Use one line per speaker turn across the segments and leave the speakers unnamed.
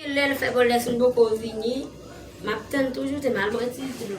Gen lè l fè bon lè si m poko vini m ap tann toujou te mal bwè ti dlo.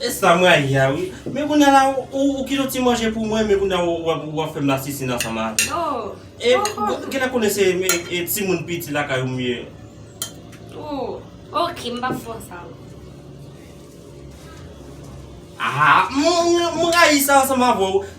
E sa m rayi a wi. Men kounya la ou kite yon ti manje pou mwen men kounya ou ap fè m lasisinn ansanm avè m. E kilè konnen
se
timoun piti lakay ou m ye. Oh ok
m pap fè w sa
ankò. Aah m rayi sa ansanm avè w.